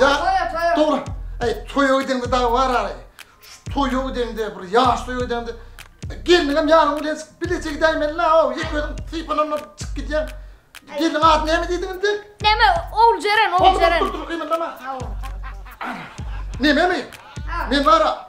Ýa, dogry, eý, toýa gideňde dagy bar ary. Şu toýa gideňde, bir ýaş toýa gideňde, gelniňem ýanyňa bilen çykyp bileje gidäýmeli-la-ow, ýeke özüň sypananlap çykyp gidýäň. Gelniň ady näme diýdiň indi? Näme, Oguljeren, Oguljeren. Dur, dur, dur, gymyldama. Nememi? Men bar-a,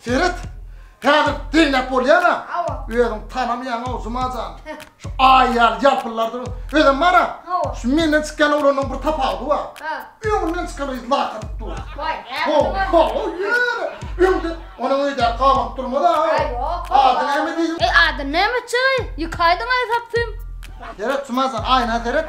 Ferit, häzir diňläp bolýar-a? Hawa. Özüň tanamaýaň-ow, Juma jan. Şu aý ýaly ýalpyllary durun. Özem bar-a? Hawa. Şu menden çykýan oglanyň bir tapawudy bar. Ha. Öňünden çykanda hiç lak atyp dur. Waý, näme Ho, ho, ýör. Öňde onuň öýdäki gabap durmaz-a? Aý, ýok. Ady näme diýdim? Eý, ady näme çyý? Ýykaýdyň-aý sapsym. Seret, Juma jan, aýna seret.